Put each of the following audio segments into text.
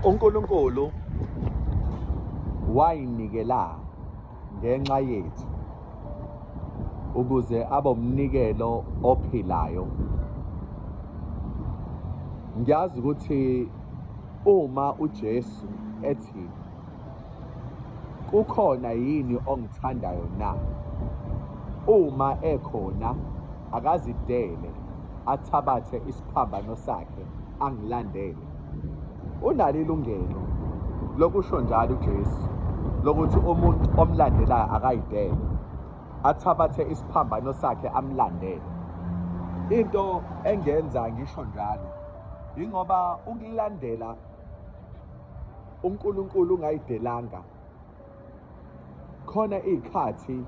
uNkulunkulu wayinikela ngenxa yethu ukuze abe umnikelo ophilayo ngiyazi ukuthi uma uJesu ethi Kukhona yini ongithandayo na? Uma ekhona akazidele athabathe isiphambano sakhe angilandele. Unalo ilungelo lokusho njalo uJesu lokuthi umuntu omlandelayo akayidele athabathe isiphambano sakhe amlandele. Into engenza ngisho njalo ingoba ukulandela uNkulunkulu ungayidelanga khona iy'khathi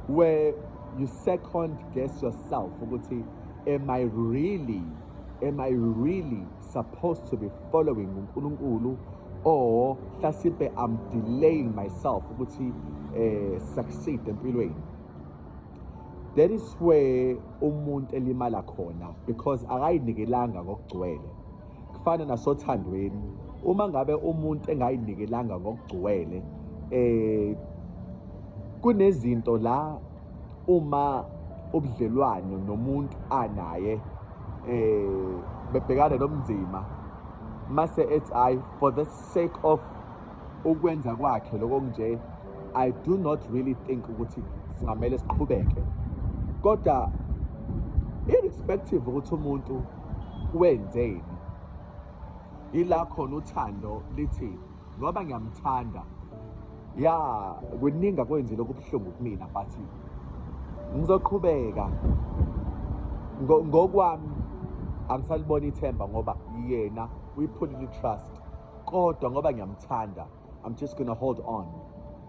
where you second guess yourself ukuthi am I really am I really supposed to be following uNkulunkulu or hlasipe I'm delaying myself ukuthi eh succeed empilweni that is where umuntu elimala khona because akayinikelanga ngokugcwele kufana nasothandweni uma ngabe umuntu engayinikelanga ngokugcwele eh kunezinto la uma ubudlelwano nomuntu anaye eh bebhekane nobunzima mase ethi hayi for the sake of ukwenza kwakhe lokho nje i do not really think ukuthi singamele siqhubeke kodwa irrespective ukuthi umuntu wenzeni ila khona uthando lithi ngoba ngiyamthanda ya kuningi akwenzile okubuhlungu kumina but ngizoqhubeka ngokwami angisalibona ithemba ngoba yena uyiphulile i-trust kodwa ngoba ngiyamthanda i'm just gonna hold on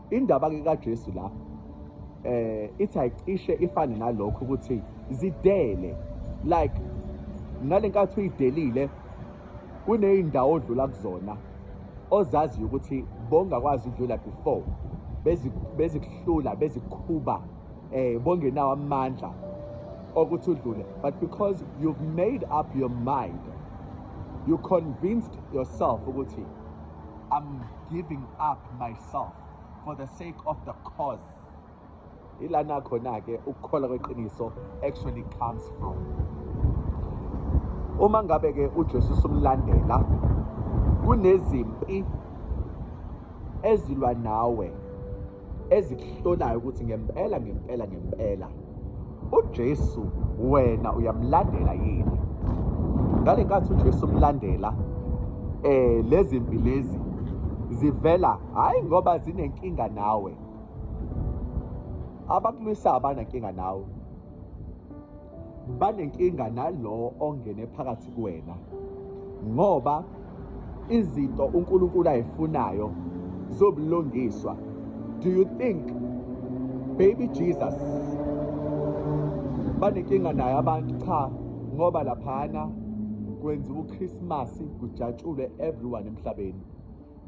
indaba ke kaJesu la eh ithi ayicishe ifane nalokho ukuthi zidele like nalenkathi uyidelile kuneyindawo odlula kuzona ozaziyo ukuthi bongakwazi udlula before bezikuhlula bezikhuba eh bongenawo amandla okuthi udlule but because you've made up your mind you convinced yourself ukuthi i'm giving up myself for the sake of the cause ilana khona ke ukukhola kweqiniso actually comes from uma ngabe ke uJesu umlandela kunezimpi ezilwa nawe ezikuhlolayo ukuthi ngempela ngempela ngempela uJesu wena uyamlandela yini ngale nkathi uJesu umlandela eh lezi mpi lezi zivela hayi ngoba zinenkinga nawe abakulwisa abanankinga nawe banenkinga nalowo ongene phakathi kuwena ngoba izinto uNkulunkulu ayifunayo zobulungiswa do you think baby Jesus banenkinga naye abantu cha ngoba laphana kwenziwa uChristmas kujatshulwe everyone emhlabeni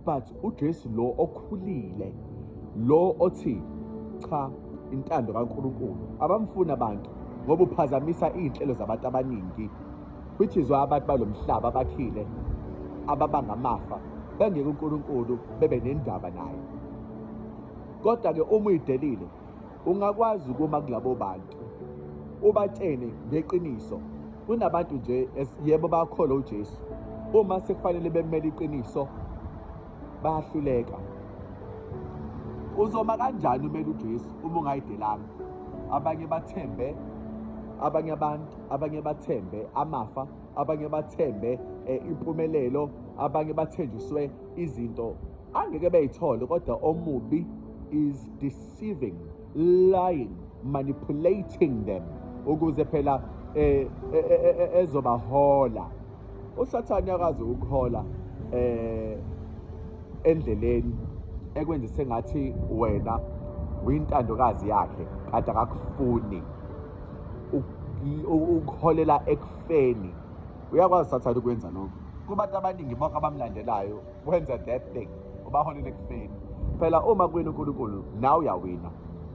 but uJesu lo okhulile lo othi cha intando kaNkulunkulu abamfuni abantu ngoba uphazamisa iy'nhlelo zabantu abaningi which is why abantu balo mhlaba abakhile ababanga amafa bengeke uNkulunkulu bebe nendaba naye kodwa-ke uma uyidelile ungakwazi ukuma kulabo bantu ubatshene ngeqiniso kunabantu nje yebo bakholwa uJesu uma sekufanele bemele iqiniso bayahluleka uzoma kanjani umele uJesu uma ungayidelanga abanye bathembe abanye abantu abanye bathembe amafa abanye bathembe eh, impumelelo abanye bathenjiswe izinto angeke beyithole kodwa omubi is deceiving lying manipulating them ukuze phela eh, eh, eh ezobahola usathane akazi ukuhola eh endleleni ekwenzise ngathi wena uyintandokazi yakhe kade akakufuni ukuholela ekufeni uyakwazi sathane ukwenza lokho kubantu abaningi bonke abamlandelayo wenza that thing ubaholela ekufeni phela uma kwena unkulunkulu nawe uyawina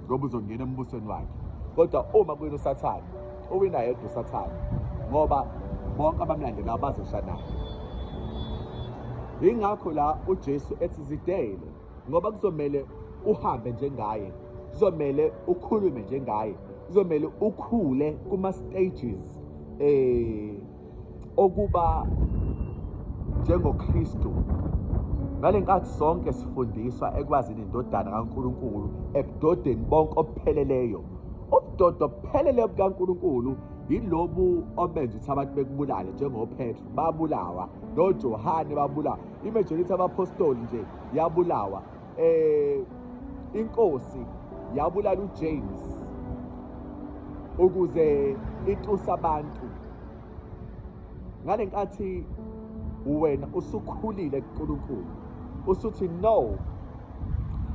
ngoba uzongena embusweni wakhe kodwa uma kwena usathane uwina yedwa usathane ngoba bonke abamlandelayo bazoshanayo yingakho la ujesu ethi zidele ngoba kuzomele uhambe njengaye kuzomele ukhulume njengaye kuzomele ukhule kuma stages eh okuba njengoKristu ngalenkathi sonke sifundiswa ekwazini indodana kaNkuluNkulu ebudodeni bonke obupheleleyo ubudodo obuphelele bukaNkuluNkulu yilobu obenza ukuthi abantu bekubulale njengoPetru babulawa noJohane babulawa imajority abapostoli nje yabulawa eh inkosi yabulala uJames ukuze itusa abantu ngalenkathi wena usukhulile kuNkulunkulu usuthi no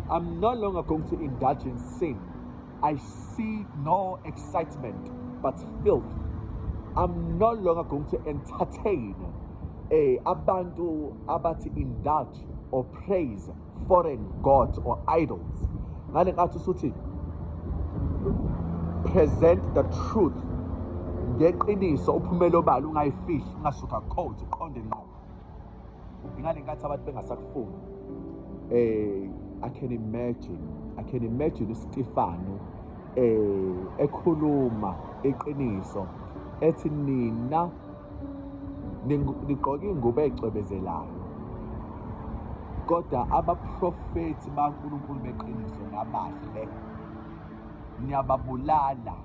I'm no longer going to indulge in sin I see no excitement but filth. I'm no longer going to entertain eh, abantu abathi indulge or praise foreign gods or idols. Ngale ngathi usuthi present the truth ngeqiniso uphumela obala ungayifihli ungasuka code uqonde ngqo ngale nkathi abantu bengasakufuni eh i can imagine i can imagine uStefano eh ekhuluma iqiniso ethi nina nigqoke ingubo ecwebezelayo kodwa abaprofethi baNkulunkulu beqiniso nabahle niyababulala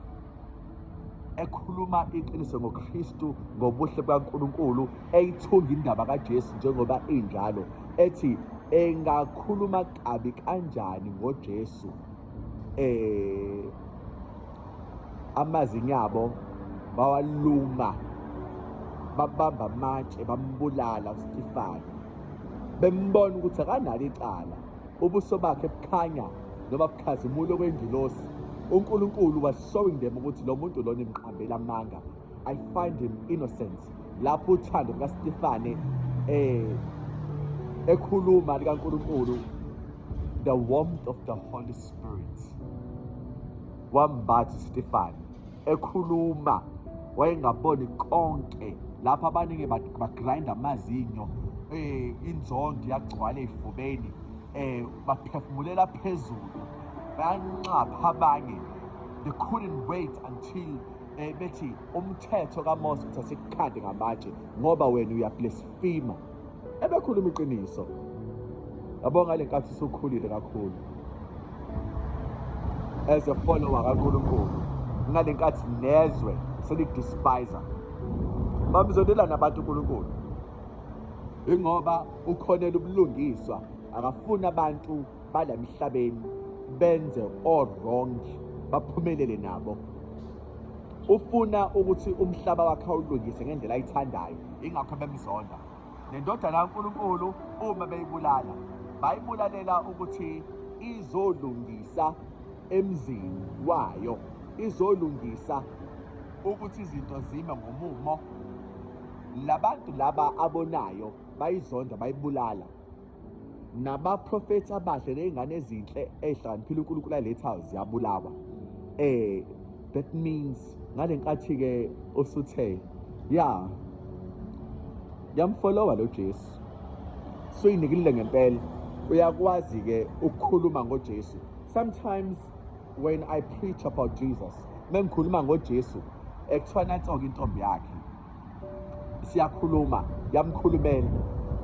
ekhuluma iqiniso ngoKristu ngobuhle bukaNkulunkulu eyithunga indaba kaJesu njengoba injalo ethi engakhuluma kabi kanjani ngoJesu eh amazinyo abo bawaluma babamba amatshe bambulala uStefani bembona ukuthi akanalo icala ubuso bakhe bukhanya noma bukhazimula okwengilosi unkulunkulu was showing them ukuthi lo muntu lona imqambela amanga i find him innocent lapho uthando lukastifane eh ekhuluma likankulunkulu the warmth of the holy spirit wambathi stefane ekhuluma wayengaboni konke lapha abaningi bagrinda amazinyo eh inzondo yagcwala ezifubeni eh baphefumulela phezulu bayanxapha abanye they couldn't wait until eh bethi umthetho kaMose uthathe ikhadi ngamatshe ngoba wena uyablesfima ebekhuluma iqiniso yabo ngale nkathi usukhulile kakhulu as a follower kaNkulunkulu ngale nkathi nezwe selidespisa bamzondelana abantu uNkulunkulu ingoba ukhonela ubulungiswa akafuni abantu bala emhlabeni benze o-wrong baphumelele nabo ufuna ukuthi umhlaba wakhe awulungise ngendlela ayithandayo ingakho bemzonda nendodana kaNkulunkulu uma beyibulala bayibulalela ukuthi izolungisa emzini wayo izolungisa ukuthi izinto zime ngomumo labantu laba abonayo bayizonda bayibulala nabaprofethi abahle ney'ngane ezinhle ey'hlakaniphile unkulunkulu alethayo ziyabulawa um that means ngale nkathi-ke usuthe ya yamfolowa lo jesu suyinikelile ngempela uyakwazi-ke ukukhuluma ngojesu sometimes when i preach about jesus mengikhuluma ngojesu ekuthiwa nanso-ke intombi yakhe siyakhuluma yamkhulumela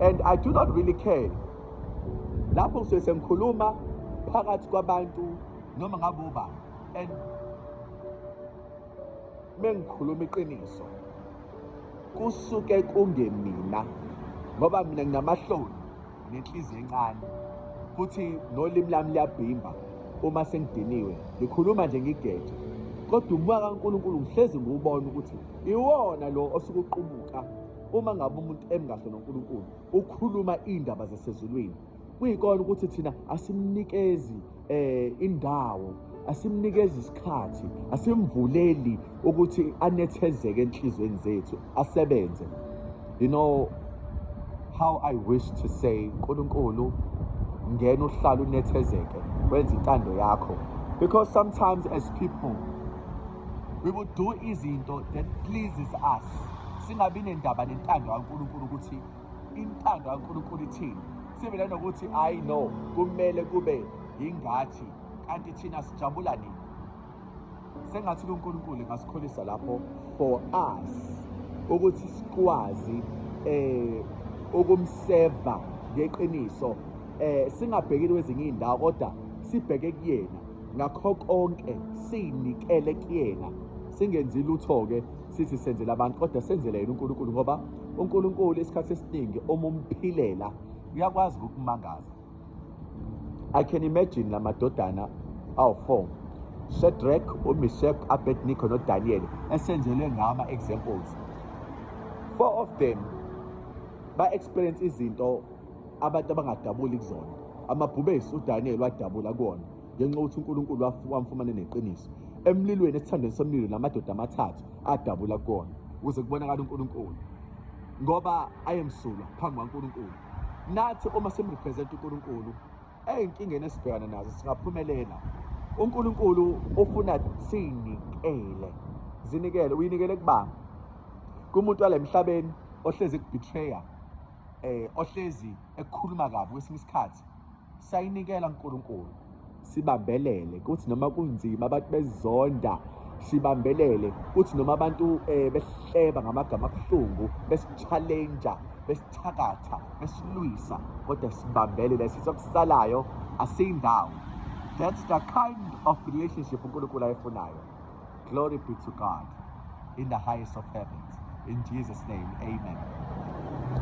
and i do not really care lapho ngisuke sengikhuluma phakathi kwabantu noma ngabe uba and mengikhuluma iqiniso kusuke kungemina ngoba mina nginamahloni nenhliziyo encane futhi nolimi lami liyabhimba uma sengidiniwe ngikhuluma nje ngigeje kodwa umoya kaNkulunkulu ngihlezi ngiwubona ukuthi iwona lo osuke uqubuka uma ngabe umuntu emkahle noNkulunkulu ukhuluma iy'ndaba zasezulwini kuyikona ukuthi thina asimnikezi eh indawo asimnikeza isikhathi asimvuleli ukuthi anethezeke enhlizweni zethu asebenze you know how i wish to say nkulunkulu ngena uhlala unethezeke wenza intando yakho because sometimes as people we will do izinto that pleases us singabi nendaba nentando kaNkulunkulu ukuthi Intando kaNkulunkulu ithini? Sibile nokuthi I know kumele kube yingathi kanti thina sijabula nini? Sengathi uNkulunkulu engasikholisa lapho for us ukuthi sikwazi eh ukumseva ngeqiniso eh singabhekile kwezinye izindawo kodwa sibheke kuyena ngakho konke sinikele kuyena singenzi lutho ke sithi senzela abantu kodwa senzele yena uNkulunkulu ngoba uNkulunkulu isikhathi esiningi uma umphilela uyakwazi ukukumangaza I can imagine la madodana awu-four Shadrach, uMeshach, Abednego noDaniel esenzelwe ngama examples four of them ba experience izinto abantu abangadabuli kuzona amabhubesi uDaniel wadabula kuwona ngenxa yokuthi uNkulunkulu wamfumana neqiniso emlilweni esithandweni somlilo namadoda amathathu adabula kukona ukuze kubonakala uNkulunkulu ngoba ayemsulwa phambi kwaNkulunkulu nathi uma simrepresent uNkulunkulu ezinkingeni esibhekana nazo singaphumelela uNkulunkulu ufuna sinikele zinikele uyinikele kubani kumuntu walemhlabeni ohlezi ekubetrayer eh ohlezi ekukhuluma kabi kwesinye isikhathi Sayinikela uNkulunkulu sibambelele kuthi noma kunzima abantu bezonda sibambelele kuthi noma abantu eh, behleba ngamagama abuhlungu besichallenja besithakatha besilwisa kodwa sibambelele sizokusalayo asiyindawo that's the kind of relationship uNkulunkulu ayifunayo glory be to God in the highest of heavens in Jesus name amen